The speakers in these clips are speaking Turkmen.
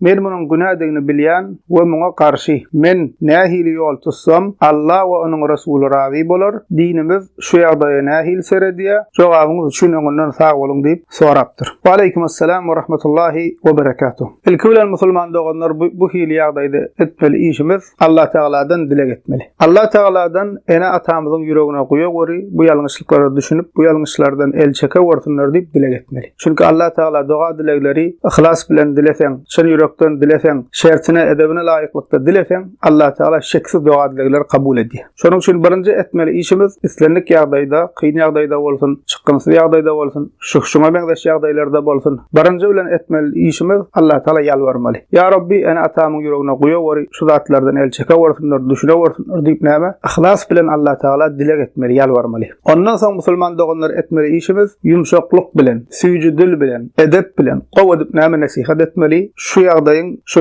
Men munuň günädigini bilýän we muňa garşy. Men nähili ýol tutsam, Alla we Onuň Resuly razy bolar? Dinimiz şu ýagdaýa nähili seredýär? Jogabyňyz üçin öňünden sag boluň diýip sorapdyr. Waleýkum Assalam we Rahmatullahi we Berekatuh. Ilki bilen musulman doganlar bu hili ýagdaýda etmeli işimiz Allah Tagaladan dileg etmeli. Allah Tagaladan ene-atamyzyň ýüregine guýa göri bu ýalňyşlyklara düşünip, bu ýalňyşlardan el çeke görsünler diýip dileg etmeli. Çünki Allah Tagala doga-dilegleri yhlas bilen dileseň, çyn ýürekden dileseň, şertine, edebine laýyklykda dileseň, Allah Tagala şeksiz doga-dilegleri kabul edýär. Şonuň üçin birinji etmeli işimiz islendik ýagdaýda, kyn ýagdaýda bolsun, çykgynsyz ýagdaýda bolsun, şuh-şuňa meňzeş ýagdaýlarda bolsun, birinji bilen etmeli işimiz Allatagala ýalbarmaly. Ýa Rabbi, ene-atamyň ýüregine guýaweri, şu zatlardan el çekewersinler, düşünewersinler diýip näme? Yhlas bilen Allatagala dileg etmeli, ýalbarmaly. Ondan soň musulman doganlar etmeli işimiz ýumşaklyk bilen, süýji dil bilen, edep bilen gowy edip näme nesihat etmeli, şu ýagdaýyň, şu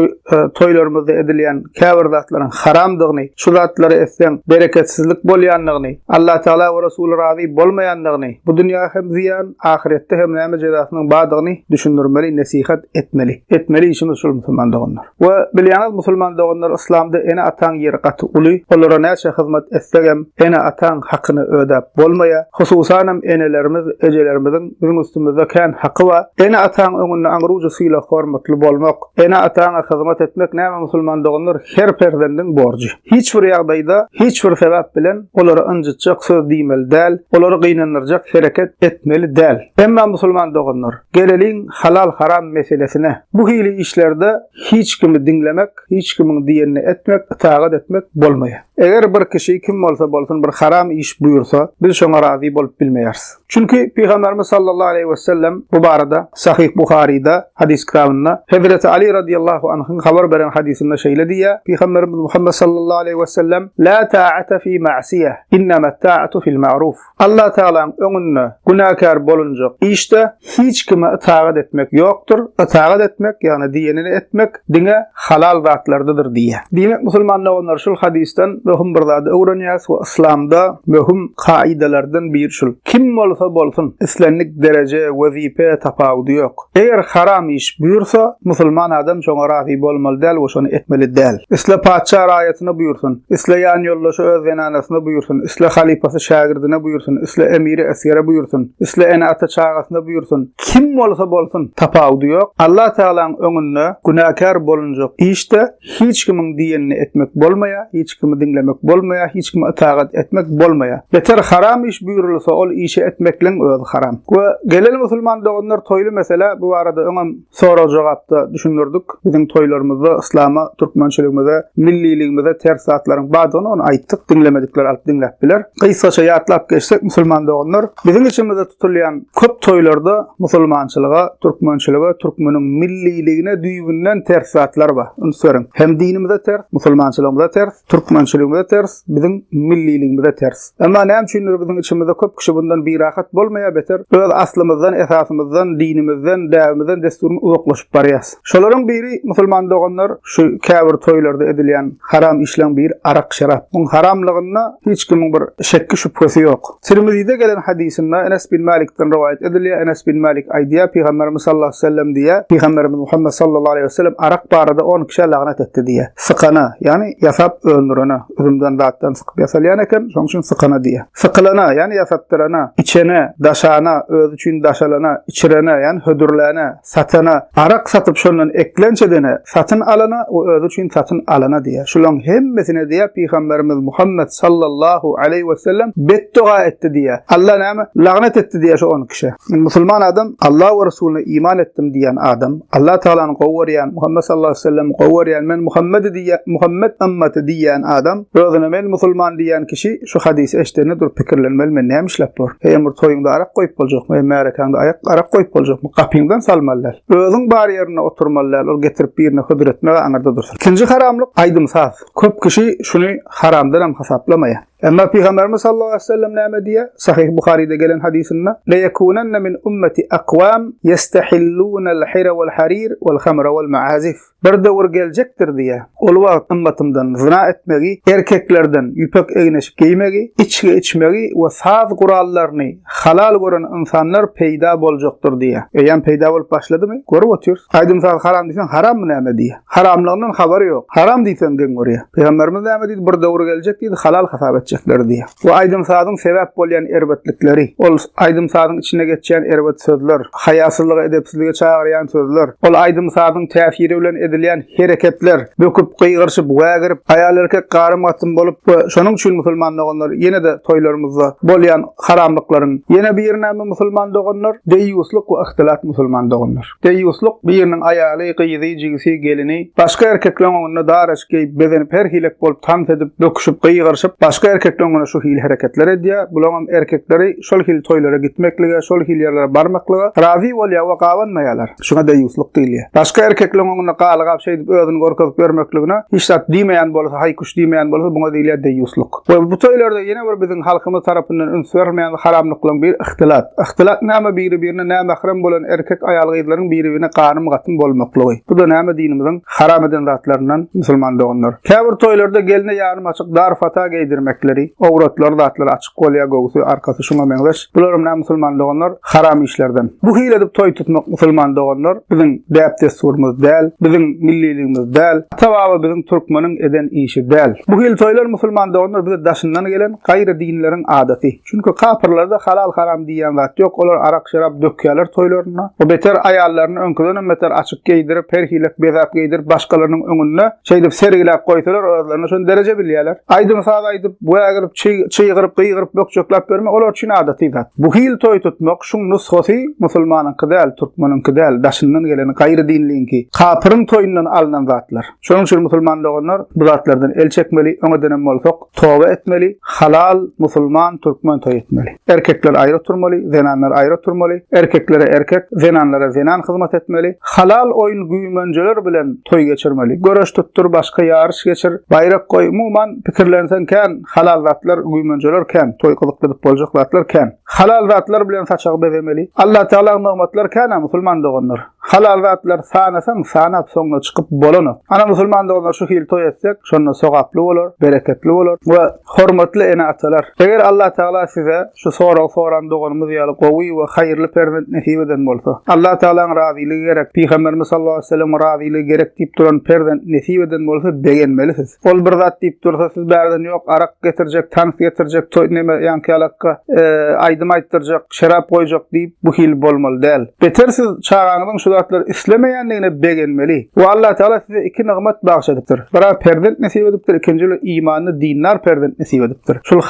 toýlarymyzda edilýän käbir zatlaryň haramdygyny, şu zatlary etseň bereketsizlik bolýandygyny, Allatagala we Resuly razy bolmaýandygyny, bu dünýä hem zyýan, ahyretde hem näme jezasynyň bardygyny düşündirmeli, nesihat etmeli. Etmeli işimiz şul musulman doganlar. We bilýäňiz musulman doganlar yslamda ene ataň ýeri gaty uly olara näçe hyzmat etsegem ene ataň hakyny ödäp bolmaýa hususanam enelerimiz ejelerimiziň biziň üstümizde kän haky ba ene ataň öňünde aňrujy sylag hormatly bolmak ene ataňa hyzmat etmek näme musulman doganlar her perzendiň borjy hiç bir ýagdaýda hiç bir sebäp bilen olara ynjytjak söz diýmeli däl olary gynandyrjak hereket etmeli däl emma musulman doganlar Geleliň halal haram meselesine. Bu hili işlerde hiç kimi diňlemek, hiç kimiň diýenini etmek, ytagat etmek bolmaýar. Eger bir kişi kim bolsa bolsun bir haram iş buýursa, biz şoňa razy bolup bilmeýäris. Çünki Pygamberimiz sallallahu aleýhi we sellem bu barada Sahyh Buharyda hadys kitabynda Hezreti Ali radyallahu anhyň habar beren hadysynda şeýle diýýär, Pygamberimiz Muhammed sallallahu aleýhi we sellem, La ta'ata fi ma'siyah, innamat ta'atu fil ma'ruf. Allatagalaň öňünde günäkär bolunjak işde hiç kime ytagat etmek ýokdur, ytagat etmek, ýagny diýenini etmek diňe halal zatlardadyr diýýär. Diýmek musulman doganlar şul hadysdan möhüm bir zady öwrenýäris we yslamda möhüm kaidalardan biri şul, kim bolsa bolsun, islendik dereje, wezipe tapawudy ýok, Eger haram iş buýursa, musulman adam şoňa razy bolmaly däl we şony etmeli däl. Isle patyşa raýatyna buýursun, isle ýanýoldaşy öz zenanasyna buýursun, isle halypasy şägirdine buýursun, isle emiri esgere buýursun, isle ene-ata çagasyna buýursun, kim bolsa bolsun, tapawudy ýok, Allatagalaň öňünde günäkär bolunjak iş-de, Hiç kimiň diýenini etmek bolmaýar, hiç kimi diňlemek bolmaýar, hiç kime ytagat etmek bolmaýar. Beter haram iş buýrulsa, ol işi etmekleň özi haram. We geleli musulman doganlar toýly mesele, bu barada öňem sorag-jogapda düşündirdik. Biziň toýlarymyzda yslama, türkmençiligimize, milliligimize ters zatlaryň bardygyny ony aýtdyk. Diňlemedikler alyp diňläp biler. Gysgaça ýatlap geçsek, musulman doganlar, biziň içimizde tutulýan köp toýlarda musulmançylyga, türkmençilige, türkmeniň milliligine düýbünden ters zatlar bar. Üns beriň, hem dinimize ters, musulmançylygymyza ters, türkmençiligimize ters, biziň milliligimize ters. Emma näme üçindir biziň içimizde köp kişi bundan birahat bolmaýar, beter öz aslymyzdan, esasymyzdan, dinimizden, däbimizden, dessur uzaklaşyp barýas. Şolaryň biri, musulman doganlar, şu käbir toýlarda edilýän haram işleň biri arak-şerap. Muň haramlygyna hiç kimiň bir şekgi-şübhesi ýok. Tirmizide gelen hadysynda Enes bin Mälikden rowaýat edilýär, Enes bin Mälik aýdýar, Pygamberimiz sallallahu aleýhi we sellem diýýär, Pygamberimiz Muhammet sallallahu aleýhi we sellem arak barada on kişä lagnat etdi diýýär. Sykana, ýagny ýasap öndürene, üzümden zatdan sykyp ýasalýan eken, şoň üçin sykana diýýär. Sykylana, ýagny ýasatdyrana, içene, daşana, özi üçin daşalana, içirene, ýagny hödürläne, Satana, arak satyp şondan eklenç edene, satyn alana we özi üçin satyn alana diýýär. Şularyň hemmesine diýýär, Pygamberimiz Muhammet sallallahu aleýhi wesellem betdoga etdi diýýär. Alla näme? Lagnet etdi diýýär şo on kişä. Musulman adam Alla we Resulyna iman etdim diýýän adam, Alla Tagalany gowy görýän, Muhammet sallallahu aleýhi wesellemi gowy görýän, men Muhammedi diýýän, Muhammet ymmaty diýýän adam, özüne men musulman diýýän kişi, Şu hadysy eşidende durup pikirlenmeli men näme işläp borun? Heýem bir toýuňda arak goýup boljakmy, hem märekäňde aýak arak goýup boljakmy? Gapyňdan salmaly däl. Özüň bar ýerinde oturmaly däl, ol getirip birine hödür etmeg-ä aňyrda dursun. Ikinji haramlyk, aýdym-saz. Köp kişi şuny haramdanam hasaplamaýar. Emma Pygamberimiz sallallahu aleyhi ve sellem näme diýýär? Sahih Buharyda gelen hadysynda, "Le yekunanna min ummeti aqwam yestahillunal hira wal harir wal khamra wal ma'azif." Bir döwür geljekdir diýýä. Ol wagt ymmatymdan zyna etmegi, erkeklerden ýüpek egneşik geýmegi, içgi içmegi we saz gurallaryny halal gören ynsanlar peýda boljakdyr diýýä. Eýýäm peýda bolup başladymy? Görüp otyrys. Aýdym-saz haram diýseň, harammy näme diýýä. Haramlygyndan habary ýok. Haram diýseň geň görýä. Pygamberimiz näme diýdi? Bir döwür geljek diýdi, halal hasap etjekler diýýä. Bu aýdym-sazyň sebäp bolýan erbetlikleri, ol aýdym-sazyň içinde geçýän erbet sözler, haýasyzlyga, edepsizlige çagyrýan sözler, ol aýdym-sazyň täsiri bilen edilýän hereketler, böküp, gygyryşyp, wägirip, aýal-erkek garym-gatym bolup we şonuň üçin musulman doganlar ýene-de toýlarymyzda bolýan haramlyklaryň ýene biri näme musulman doganlar, deýýuslyk we yhtylat musulman doganlar. Deýýuslyk, biriniň aýaly, gyzy, jigisi, gelini, başga erkekleň öňünde dar eşik geýip, bezenip, her hilek bolup, tans edip, böküşip, gygyryşyp, başga erkekleň öňünde şu hili hereketler edýär, bulaňam erkekleri şol hili toýlara gitmeklige, şol hili ýerlere barmaklyga razy bolýar we gabanmaýarlar. Şuňa deýýuslyk diýilýär. Başga erkekleň öňünde galygap şeýdip özüni görkezip ýörmekligine hiç zat diýmeýän bolsa, haý-küş diýmeýän bolsa, buňa diýilýär deýýuslyk. We bu toýlarda ýene bir biziň halkymyz tarapyndan üns berilmeýän haramlyklaryň biri ihtilat. Ihtilat näme biri birine nämährem bolan erkek aýal gyzlaryň biri birine ganym gatym bolmaklygy. Bu da näme dinimiziň haram eden zatlaryndan musulman doganlar. Käbir toýlarda gelne ýarym açyk dar fata geýdirmekleri, owratlary zatlary açyk bolýar göwsi arkasy şuňa meňzeş. Bularym ne musulman doganlar haram işlerden. Bu hil edip toy tutmak musulman doganlar biziň däp dessurymyz däl, biziň milliligimiz däl, ata baba biziň türkmeniň eden işi däl. Bu hil toylar musulman doganlar bize daşyndan gelen gaýry dinleriň adaty. Çünki kapyrlarda halal haram diýýän zat ýok, olar arak şerap dökýärler toýlarynda we beter aýallaryny öňküdenem beter açyk geýdirip, her hilek bezäp geýdirip başgalarynyň öňünde Şeýdip sergiläp goýsalar, özlerini şol dereje bilýärler. Aýdym-saz aýdyp, wägirip, çygyryp, gygyryp, bökjeklap bermek olar üçin adaty zat. Bu hil toý tutmak, şuň nusgasy musulmanyňky däl, türkmeniňki däl, daşyndan gelen gaýry dinliňki, kapyryň toýundan alnan zatlar. Şonuň üçin musulman doganlar bu zatlardan el çekmeli, öňedenem bolsak, Toba etmeli, halal musulman türkmen toý etmeli. Erkekler aýry oturmaly, zenanlar aýry oturmaly, erkeklere erkek, zenanlara zenan hyzmat etmeli. Halal oýun güýmenjeler bilen toý geçirmeli. Göreş tutdur, başga ýaryş geçir, baýrak goý, umuman pikirlenseň kän, halal zatlar, güýmenjeler kän, toý gyzykly edip boljak zatlar kän. Halal zatlar bilen saçagy bezemeli. Allatagala nygmatlar kän-ä musulman doganlar. Halal zatlar sanasaň sanap soňuna çykyp bolanok. Ana musulman doganlar şu hili toý etsek şonda sogaply bolar, bereketli bolar we hormatly ene atalar eger Allah Taala size şu soragy soran doganymyz ýaly gowy we haýyrly perzent nesip eden bolsa Allah Taalaň razylygy gerek pygamberimiz sallallahu aleyhi weselem razylygy gerek diýip duran perzent nesip eden bolsa begenmelisiz. Ol bir zat diýip dursa siz bärden ýok arak getirjek, tans getirjek, toý neme ýanky ýalakka e, aýdym aýtdyrjak. şerap goýjak diýip bu hili bolmaly däl. Beter siz çagaňyzyň şu zatlary islemeýändigine begenmeli. We Allatagala size iki nygmat bagş edipdir. Bira perzent nesip edipdir, ikinji bile imanly dindar perzent nesip edipdir. Şul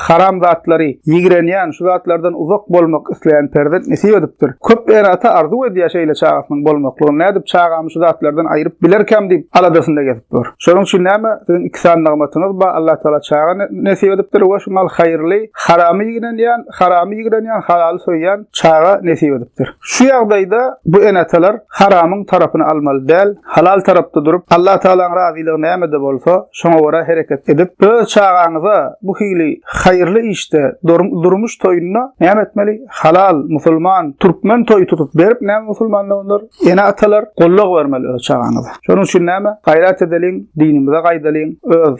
haram zatlary ýigrenýän, şu zatlardan uzak bolmak isleýän perzent nesip edipdir. Köp ene-ata arzuw edýär şeýle çagasynyň bolmaklygyny. Nädip çagamy şu zatlardan aýryp bilerkäm diýip aladasynda gezip ýör. Şonuň üçin näme? Siziň iki sany nygmatyňyz bar. Allatagala çaga nesip edipdir we şu mal haýyrly, haramy ýigrenýän, haramy ýigrenýän, halaly söýýän çaga nesip edipdir. Şu ýagdaýda bu ene-atalar haramyň tarapyny almaly däl, halal tarapda durup, Allatagalaň razylygy nämede bolsa, şoňa görä hereket edip, öz çagaňyza bu hili haýyrly işde, durmuş toýunda näme etmeli? Halal, musulman, türkmen toýy tutup berip, näme musulmanlar olar? Ene-atalar gollag bermeli öz çagaňyza. Şonuň üçin näme? Gaýrat edeliň, dinimize gaýdalyň, öz